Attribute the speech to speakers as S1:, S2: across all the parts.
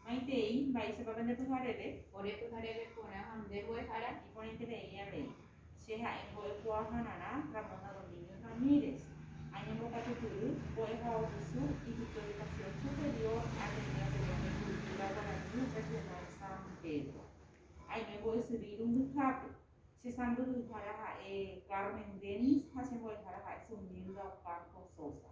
S1: Maitei, mba'éichapa pende pyhareve? Ore pyhareve porã ha nde mbo'ehára. Iporãiterei avei, che ha'e mbo'ekuaahararã Ramona Domínguez Ramírez. Añembokatu kyry, mbo'ehaovusu Ypype Educación Superior Ateneo de Lengua y Cultura Guaraní Regional San Pedro. Aime mbo'esyry irundyhápe. Che sãmbyhyhára ha'e Carmen Dennis ha che mbo'ehára ha'e Zumilda Ocampo Sosa.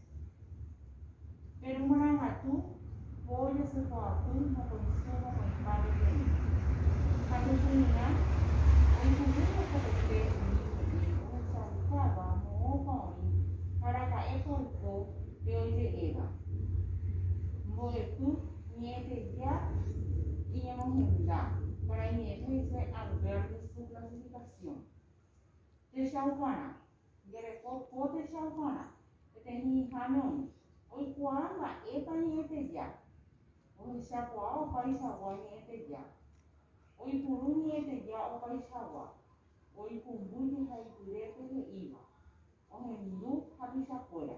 S1: Péro marangatu po jasypa'apy mokõi sy mokõi pá peteĩ. Ha pechug̃uirã oipu'ỹ mokõiete umi ñe'ẽ ohechaukáva moõpa oĩ ha araka'épa oiko pe oje'éva. Mbo'epy ñe'ẽteja iñemohenda para iñe'ẽme hese Albert de su clasificación. Techauparã. Nde reko pótecha oparã, peteĩ ha'me oĩ, oikuaa mba'épa ñe'ẽteja, ohechakuaa opaichagua ñe'ẽteja, oipuru ñe'ẽteja opaichagua, oikumbu jehaipyrépe he'íva, ohendu ha tuichakuéra.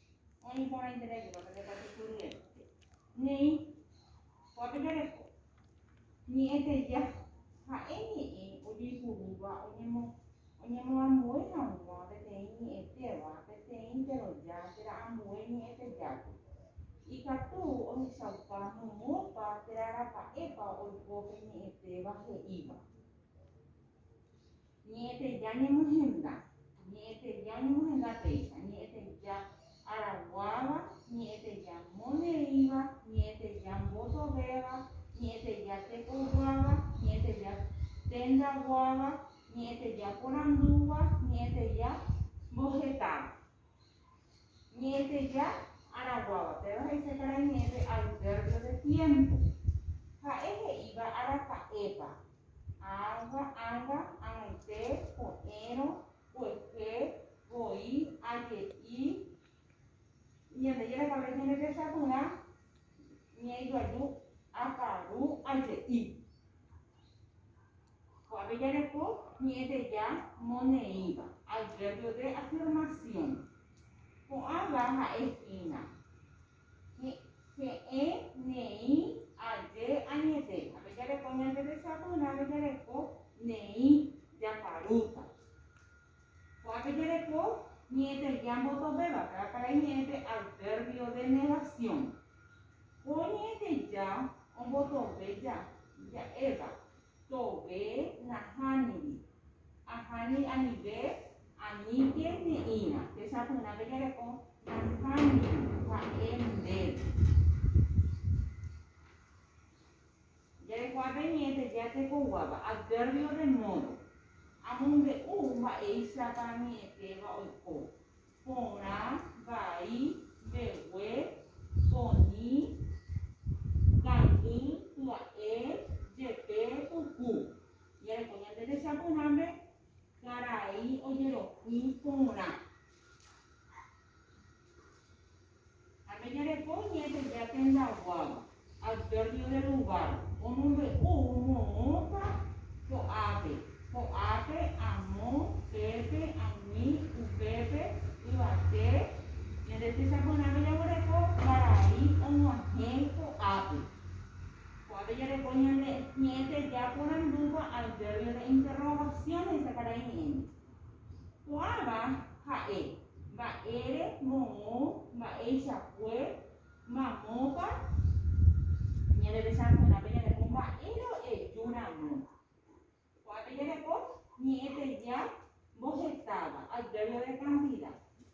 S1: Oĩ porãiterei hikuái pende katukyryete. Néi, kóape jareko. Ñe'ẽteja, ha'e ñe'ẽ ojeipurúva oñemoambue hag̃ua peteĩ ñe'ẽtéva peteĩ teroja térã ambue ñe'ẽtejágui. Ikatu ohechauka momópa térã rapa'épa oiko pe ñe'ẽtéva he'íva. Ñe'ẽteja ñemohenda, ñe'ẽteja ñemohenda péicha, ñe'ẽteja araguáva, ñe'ẽteja moñe'ẽíva, ñe'ẽteja mbotovéva, ñe'ẽteja tekojoáva, ñe'ẽteja tendaguáva, ñe'ẽteja porandúva, ñe'ẽteja mbohetáva. Ñe'ẽteja araguáva, péva he'ise karai ñe'ẽpe advérbio de tiémpo. Ha'e he'íva araka'épa, ãva, ãnga, ag̃uite, ko'ẽrõ, kuehe, voi, aje'i, Ñandejára pave ñane resa porã, ñe'ẽjoaju, aparu, aje'i. Ko'ápe jareko ñe'ẽteja moneĩva, advérbio de afirmación. Ko'ãva ha'e hína, he'ẽ neĩ aje añete. Ápe jareko ñanderecha porãve jareko neĩ jakarúta. Ko'ápe jereko ñe'ẽtergia mbotoveva, ka'a karai ñe'ẽpe advérbio de negasiõ. Ko ñe'ẽteja ombotove ja, ja'éva, tove nahániri, aháni anive, aníke ne'ĩva. Techapyrãpe jereko nahániri, ha'e ndéve. Jaikuaa peniéte jatekoguáva adverbio de modo. Amombe'u mba'éichapa añe'ẽtéva oiko, porã, vai, mbegue, poñi, kangy, pya'e, jepe, puku. Jareko ñande techapyrãme, karai, ojeroky, porã. Ha peñareko ñe'ẽ pende ha tendaguáva, adverbio del lugar, omombe'u moõpa ko'ápe, ko'ápe, amo, pépe, ani, upépe, yvate, ñande tesaporãme jaguereko varai og̃uahẽ ko'ápe. Ko'ápe jareko ñande ñe'ẽ teja porandúva adverbio de interrogación he'isa karai ñe'ẽme. Ko'ãva ha'e mba'ére moõ mba'eichakue mamópa ñandetechakuéra pe ñanepó mba'e ro'eju ramo. Ko'ã pe ñanepó ñe'ẽteja mbohetáva, adverbio de cantidad.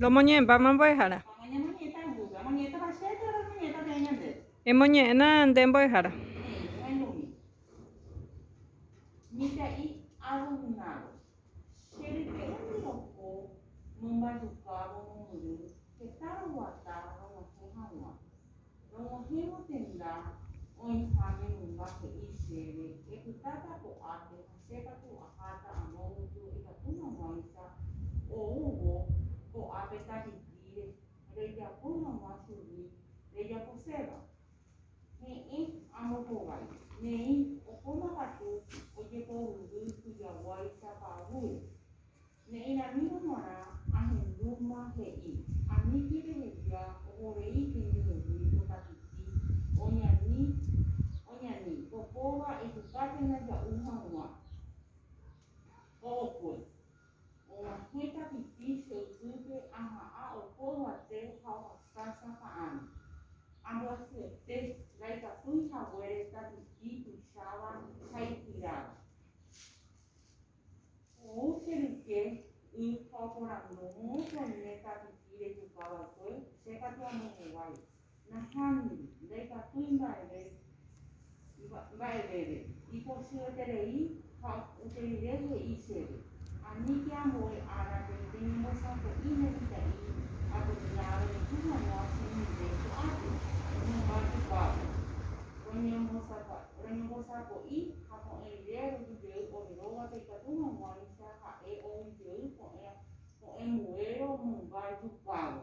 S1: Lomoñe'ẽpa ma mbo'ehára. Emoñe'ẽna nde mbo'ehára. Che ryke'y ndiroko mombajukávo momyry heta roguata rog̃uahẽ hag̃ua. Rog̃uahẽvo tenda oĩha memymba he'i chéve epytáta ko'ápe ha che katu aháta amo guyju ikatu hag̃uáicha oúvo ko'ápe tajypíre rejapo hag̃ua chugui rejaposéva. Heẽ, amohovái. Neĩ, ohóma katu ojepovyvy tujaguái sapavúre. Ne'ĩramírõ g̃uarã ahendúma he'i, Amíki reheja ohovei hendy yvy pokatuti oñani oñani ko kóva ejukápe ndaja'u hag̃ua ookue. Og̃uahẽ tapipi che ypýpe aha'ã oho yvate ha ohasa sapa'ãme. Ambyasyete, ndaikatúi haguére tapipi tuicháva ha ikyráva. Ou che ryke y ha oporandúvo, Moõpa oime tapipi rejuka va'ekue? Che katu amombovái. Nahániri, ndaikatúi mba'eve mba'evére, ipochyveterei ha upépe rire he'i chéve, Aníke ambue árape peñembosako'i ne mitã'i apytégã avereko hag̃ua chendive ko'ápe, hymba tupápe, roñembosako'i ha ko'ẽ rire roju jey ore rógape ikatu hag̃uáicha ha'e ou jey ko'ẽ mbuéro mymba jupávo.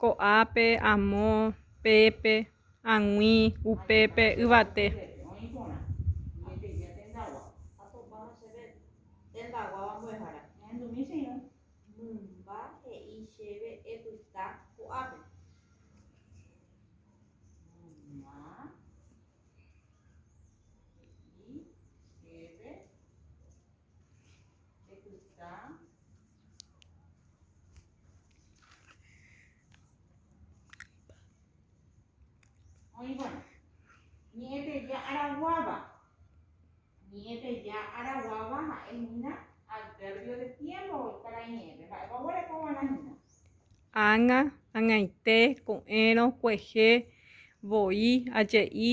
S1: Ko'ápe, amo, pépe, ag̃ui, upépe, yvate. Mymba he'i chéve epyta ko'ápe. Ág̃a, ag̃aite, ko'ẽrõ, kuehe, voi, aje'i.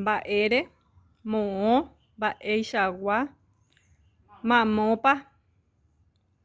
S1: Mba'ére, moõ, mba'eichagua, mamópa.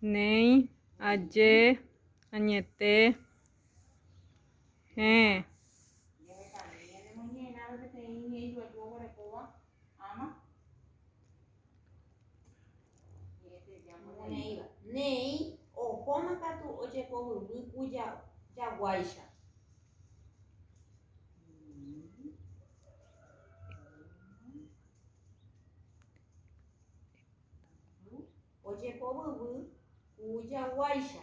S1: Néi, aje, añete, hẽ. Moneíva. Néi ohóma katu ojepohyvi ku jaguáicha. Ojepovyvy ku jaguáicha.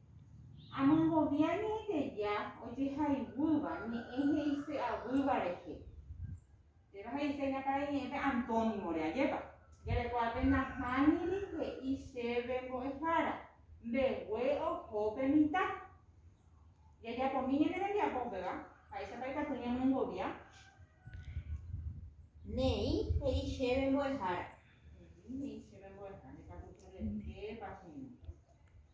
S1: Amongovia Ñe'ẽteja ojehayhúva ñe'ẽ he'ise avýva rehe. Péva he'ise hína karai ñe'ẽpe antónimore. Ajépa? Jarekuápe nahániri he'i chéve mbo'ehára, mbegue oho pe mitã. Jajapomi ñane rembiapo upéva, ha'éichapa ikatu ñamongovia? Ne'ĩ he'i chéve mbo'ehára. Ne'ĩ he'i chéve mbo'ehára. Ndekatuséi rehépa hína.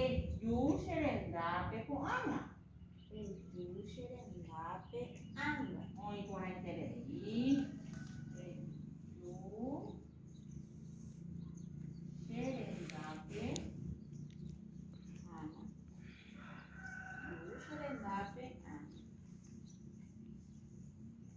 S1: Eju che rendápe ko'ág̃a. Eju che rendápe ág̃a. Oĩ porãiterei. Eju che rendápe ág̃a. Eju che rendápe ág̃a.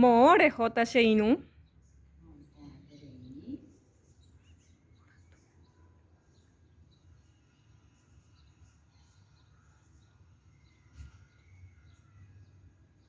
S1: Moõ rehóta che irũ.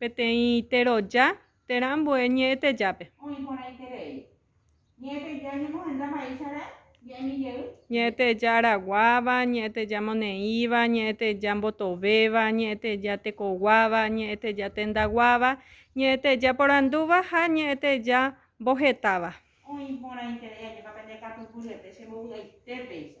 S1: Peteĩ teroja térã ambue ñe'ẽtejápe. Oĩ porãiterei. Ñe'ẽteja ñemohenda mba'éichare ñe'ẽmi jey. Ñe'ẽteja araguáva, ñe'ẽteja moneĩva, ñe'ẽteja mbotovéva, ñe'ẽteja tekoguáva, ñe'ẽteja tendaguáva, ñe'ẽteja porandúva ha ñe'ẽteja mbohetáva. Oĩ porãiterei ajépa pende katu py'ete che mbovy'aite péicha.